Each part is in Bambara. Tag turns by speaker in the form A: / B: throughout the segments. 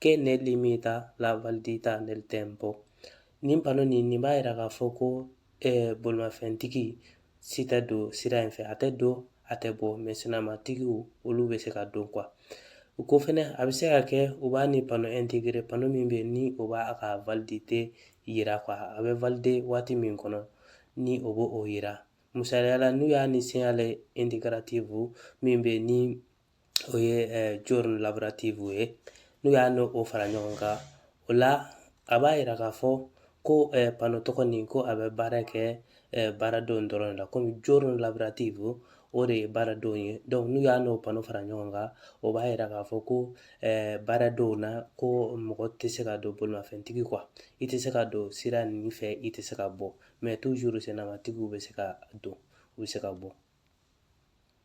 A: che ne limita la validità nel tempo nin pano nin nin b'a yira k'a fɔ ko eh, bolimafɛntigi si tɛ don sira in fɛ a tɛ don a tɛ bɔ mɛ sennamatigiw olu bɛ se ka don kuwa o kɔ fɛnɛ a bɛ se ka kɛ u b'a ni pano integire pano min bɛ yen ni o b'a ka validite yira kuwa a bɛ valide waati min kɔnɔ ni o b'o o yira misaliya la n'u y'a ni segnale integrativo min bɛ yen ni o ye giorni lavorativi ye n'u y'a n'o o fara ɲɔgɔn kan o la a b'a yira k'a fɔ ko pano tɔgɔ nin ko a bɛ baara kɛ baaradonw dɔrɔn de la komi giorni lavorativi o o de ye baaradonw ye n'u y'a n'o pano fara ɲɔgɔn kan o b'a yira k'a fɔ ko baaradonw na ko mɔgɔ tɛ se ka don bolimafɛntigi kuwa i tɛ se ka don sira nin fɛ i tɛ se ka bɔ mɛ toujours sennamatigiw bɛ se ka don u bɛ se ka bɔ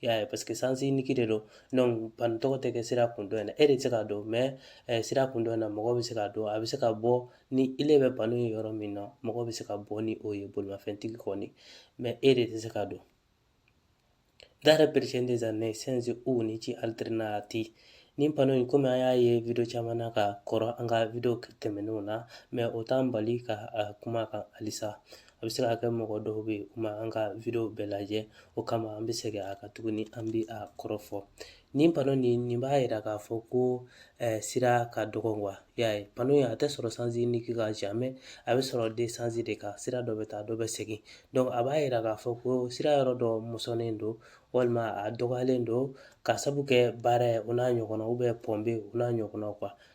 A: i y'a ye paseke sens unique de don donc pano tɔgɔ tɛ kɛ sira kun dɔ in na e de tɛ se ka don mɛ eh, sira kun dɔ in na mɔgɔ bɛ se ka don a bɛ se ka bɔ ni ile bɛ pano ye yɔrɔ min na mɔgɔ bɛ se ka bɔ ni o ye bolimafɛntigi kɔni mɛ e de tɛ se ka don dare precedenza nei sensi unici alternati nin pano in komi an y'a ye video caman na ka kɔrɔ an ka video tɛmɛnenw na mɛ o t'an bali ka kuma kan halisa a bɛ se ka kɛ mɔgɔ dɔw bɛ yen u ma an ka video bɛɛ lajɛ o kama an bɛ segin a kan tuguni an bɛ a kɔrɔ fɔ nin pano nin nin b'a yira k'a fɔ ko eh, sira ka dɔgɔ kuwa y'a ye pano in a tɛ sɔrɔ sens unique kan jamais a bɛ sɔrɔ deux sens de kan sira dɔ bɛ taa dɔ bɛ segin donc a b'a yira k'a fɔ ko sira yɔrɔ dɔ mɔsɔnnen don walima a dɔgɔyalen don ka sabu kɛ baara ye o n'a ɲɔgɔnna ubiyɛn ponte o n'a ɲɔgɔnnaw kuwa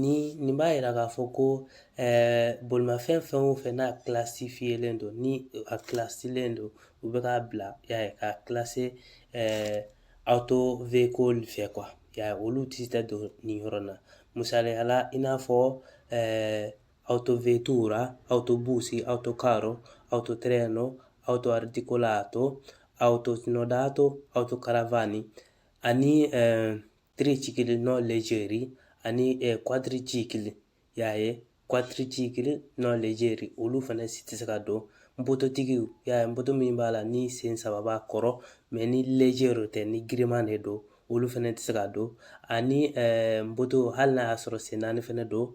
A: Ni nin b'a yira k'a fɔ ko bolimafɛn fɛn o fɛn n'a kilasifiyelen don ni a kilasilen don u bɛ k'a bila y'a ye k'a kilase autoveicoli fɛ kuwa y'a ye olu si tɛ don nin yɔrɔ na misaliya la i n'a fɔ autovettura autobus autocarro autotreno autoarticolato autosnodato autocaravan ani tricicli non leggeri ani quadricicli y'a ye quadricicli non leggeri olu fana si tɛ se ka don mototigiw y'a ye moto min b'a la ni sen saba b'a kɔrɔ mɛ ni leggero tɛ ni giriman de don olu fɛnɛ tɛ se ka don ani moto hali n'a y'a sɔrɔ sen naani fɛnɛ don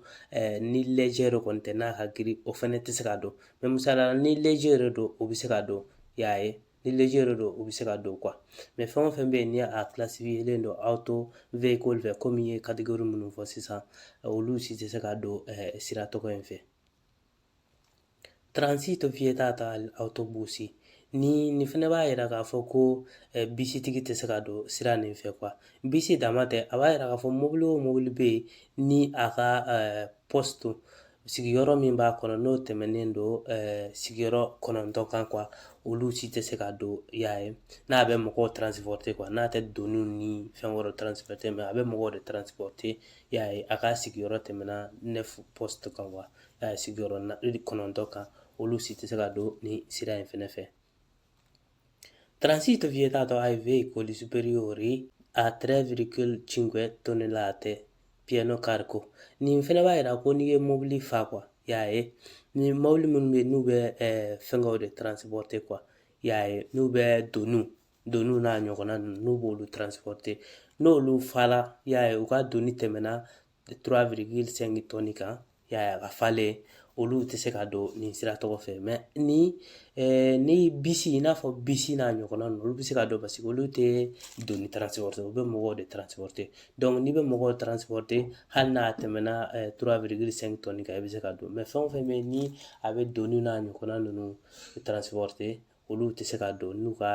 A: ni lɛjɛ de kɔni tɛ n'a ka girin o fɛnɛ tɛ se ka don misaliya la ni lɛjɛ yɛrɛ don o bɛ se ka don y'a ye ni lejɛ de don u bɛ se ka don kuwa mɛ fɛn o fɛn bɛ yen ni a kilasifiyelen don autoveicoli fɛ komi n ye kategori minnu fɔ sisan olu si tɛ se ka don sira tɔgɔ in fɛ transito vietato agli autobus nin fɛnɛ b'a yira k'a fɔ ko bisitigi tɛ se ka don sira nin fɛ kuwa bisi dama tɛ a b'a yira k'a fɔ mobili o mobili bɛ yen ni a ka posto sigiyɔrɔ min b'a kɔnɔ n'o tɛmɛnen don sigiyɔrɔ kɔnɔntɔn kan kuwa olu si tɛ se ka don y'a ye n'a bɛ mɔgɔw transporte kuwa n'a tɛ doni ni fɛn wɛrɛ transporte mɛ a bɛ mɔgɔw de transporte y'a ye a ka sigiyɔrɔ tɛmɛna neuf postes kan kuwa sigiyɔrɔ kɔnɔntɔn kan olu si tɛ se ka don ni sira in fɛnɛ fɛ Transito vietato ai veicoli superiori a 3,5 tonnellate pieno carico. Nin fɛnɛ b'a yira ko n'i ye mobili fa kuwa y'a ye ni mobili minnu bɛ yen n'u bɛ eh, fɛngɛw de transporte kuwa y'a ye n'u bɛ doniw doniw n'a ɲɔgɔnna ninnu n'u b'olu transporte n'olu fala y'a ye u ka doni tɛmɛna 3,5 tɔni kan y'a ye a ka falen olu tɛ se ka don nin sira tɔgɔ fɛ mɛ ni ni bisi i n'a fɔ bisi n'a ɲɔgɔnna ninnu olu bɛ se ka don paseke olu tɛ doni taransipɔrite u bɛ mɔgɔw de taransipɔrite n'i bɛ mɔgɔw taransipɔrite hali n'a tɛmɛna 3,5 tɔni kan i bɛ se ka don mɛ fɛn o fɛn bɛ yen ni a bɛ doni n'a ɲɔgɔnna ninnu taransipɔrite olu tɛ se ka don n'u ka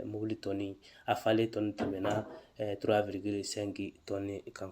A: mobili tɔni a falen tɔni tɛmɛna 3,5 tɔni kan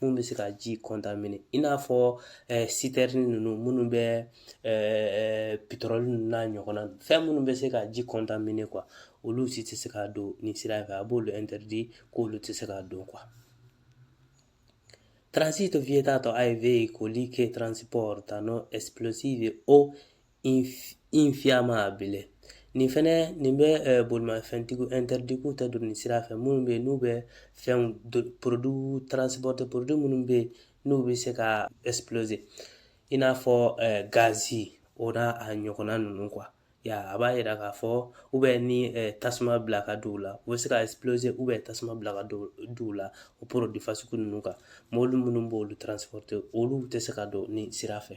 A: minnu bɛ se ka ji kɔntamine i n'a fɔ sitɛrini ninnu minnu bɛ petɔrɔli ninnu n'a ɲɔgɔnna fɛn minnu bɛ se ka ji kɔntamine kuwa olu si tɛ se ka don nin sira fɛ a b'olu ɛntɛridi k'olu tɛ se ka don kuwa transito vietato ai veicoli che trasportano esplosivi o infiammabili nin fɛnɛ nin bɛ bolimafɛntigiw ɛntɛridi k'u tɛ don nin sira fɛ minnu bɛ yen n'u bɛ fɛn porodwi transporte porodwi minnu bɛ yen n'u bɛ se ka explose i n'a fɔ gazi o n'a a ɲɔgɔnna ninnu kuwa y'a ye a b'a yira k'a fɔ u bɛ ni tasuma bila ka d'u la u bɛ se ka explose u bɛ tasuma bila ka d'u la o porodwi fasugu ninnu kan mɔbili minnu b'olu transporte olu tɛ se ka don nin sira fɛ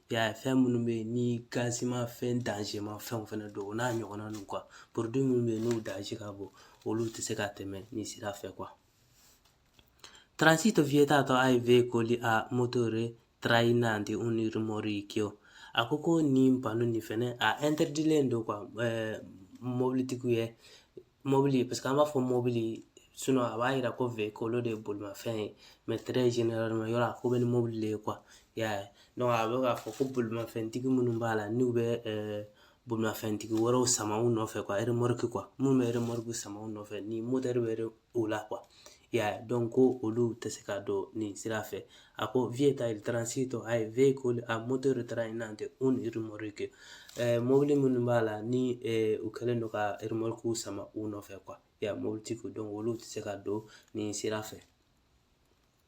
A: I y'a ye fɛn minnu bɛ yen ni gazima fɛn danzema fɛn fɛnɛ don o n'a ɲɔgɔnna ninnu kuwa porodwi minnu bɛ yen n'u danze ka bon olu tɛ se ka tɛmɛ nin sira fɛ kuwa Transito vietato ai veicoli a motore trainanti un rimorchio a ko ko nin pano nin fɛnɛ a ɛntɛridilen don kuwa mɔbilitigiw ye mɔbili paseke an b'a fɔ mɔbili sinon a b'a yira ko veicolo de ye bolimafɛn ye mais très généralement yɔrɔ a ko bɛ ni mobili de ye kuwa i y'a ye donc a bɛ k'a fɔ ko bolimafɛntigi minnu b'a la n'u bɛ bolimafɛntigi wɛrɛw sama u nɔfɛ kuwa remorque kuwa minnu bɛ remorque sama u nɔfɛ ni moteur bɛ o la i y'a ye donc ko olu tɛ se ka don nin sira fɛ a ko vieta il transito ai veicoli a motore trainanti un rimorchio mobili minnu b'a la ni u kɛlen don ka irimɔrikiw sama u nɔfɛ kuwa y'a mobilitigiw donc olu tɛ se ka don nin sira fɛ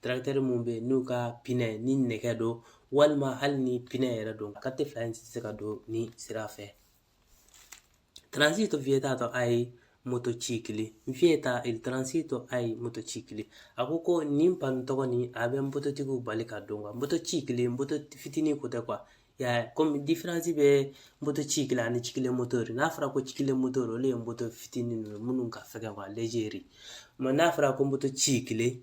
A: tarakitɛri minnu bɛ yen n'u ka pinɛ ni nɛgɛ don walima hali ni pinɛ yɛrɛ don ka tɛ fila in tɛ se ka don nin sira fɛ transito vietato ai motocicli vieta il transito ai motocicli a ko ko nin panneau tɔgɔ nin a bɛ mototigiw bali ka don kuwa motocicli moto fitinin ko tɛ kuwa y'a ye komi diferansi bɛ motocicli ani ciclomotori n'a fɔra ko ciclomotori olu ye moto fitinin ninnu minnu ka fɛgɛn kuwa léger mais n'a fɔra ko motocicli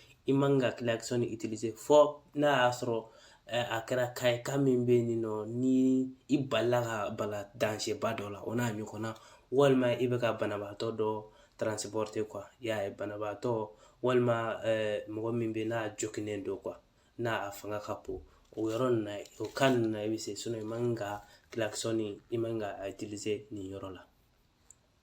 A: i man ka kilakisɛni itilize fɔ n'a y'a sɔrɔ a kɛra cas ye cas min bɛ yen nɔ ni i balila ka bala danger ba dɔ la o n'a ɲɔgɔnna walima i bɛ ka banabaatɔ dɔ transpɔrite kuwa y'a ye banabaatɔ walima mɔgɔ min bɛ n'a joginnen don kuwa n'a a fanga ka bon o yɔrɔ nin na o cas nin na i bɛ se sinon i man ka kilakisɛni i man ka a itilize nin yɔrɔ la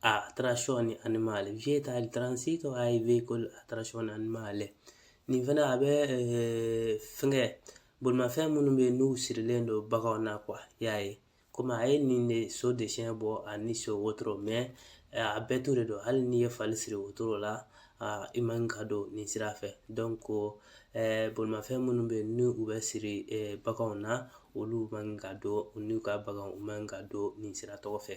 A: a trazione animale vieta il transito ai veicoli a trazione animale nin fana a bɛ eh, fɛngɛ bolimafɛn minnu bɛ yen n'u sirilen don baganw na kuwa y'a ye komi a ye nin de so dessin bɔ ani so wotoro mɛ eh, a bɛɛ to de don hali n'i ye fali siri wotoro la ah, i man ka don nin sira fɛ ko eh, bolimafɛn minnu bɛ yen ni u bɛ siri baganw na olu man ka don u n'u ka baganw u man ka don nin sira tɔgɔ fɛ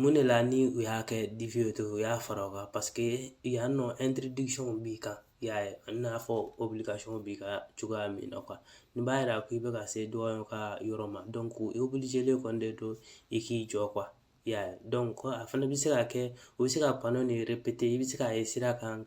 A: mun de la ni u y'a kɛ dife ye u y'a fara o kan paseke yan nɔ b'i kan i y'a ye a n'a fɔ b'i ka cogoya min na nin b'a yira k'i bɛ ka se dɔ ka yɔrɔ ma kɔni de don i k'i jɔ i y'a ye a fana bɛ se ka kɛ u bɛ se ka bana nin i bɛ se ka ye sira kan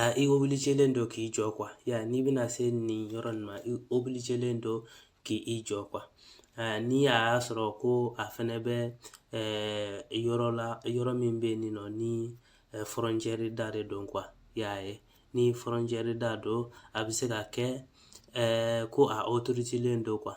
A: a i obilijilen don k'i jɔ kuwa y'a ye n'i bɛna se nin yɔrɔ nin ma i obilijilen don k'i i jɔ kuwa ni a y'a sɔrɔ ko a fɛnɛ bɛ yɔrɔ la yɔrɔ min bɛ yen nɔ ni fɔrɔncɛri da de don kuwa y'a ye ni fɔrɔncɛri da don a bɛ se ka kɛ ko a otorizelen don kuwa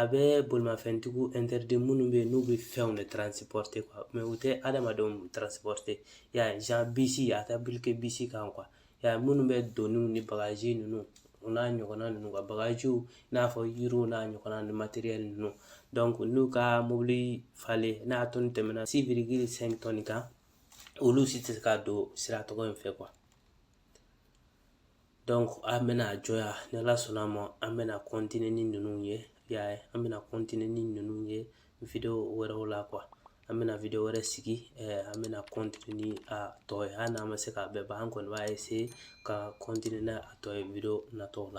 A: a bɛ bolimafɛntigiw interdit minnu bɛ yen n'u bɛ fɛnw de transporter quoi mais u tɛ adamadenw transporter ya bisi a t'appliquer bisi kan quoi ya minnu bɛ doniw ni bagaji ninnu o n'a ɲɔgɔnna ninnu ka bagajiw i n'a fɔ yiriw n'a ɲɔgɔnna ni matériel ninnu donc n'u ka mobili falen n'a tɔni tɛmɛna six virgule cinq tonnes kan olu si tɛ se ka don sira tɔgɔ in fɛ an bɛna a jɔya ni ala sɔnna a ma an bɛna ni ninnu ye y'a ye an bɛna ni ninnu ye wɛrɛw la an bɛna wɛrɛ sigi an bɛna ni a tɔ ye hali n'an ma se k'a bɛɛ ban an kɔni b'a ka n'a tɔ ye natɔw la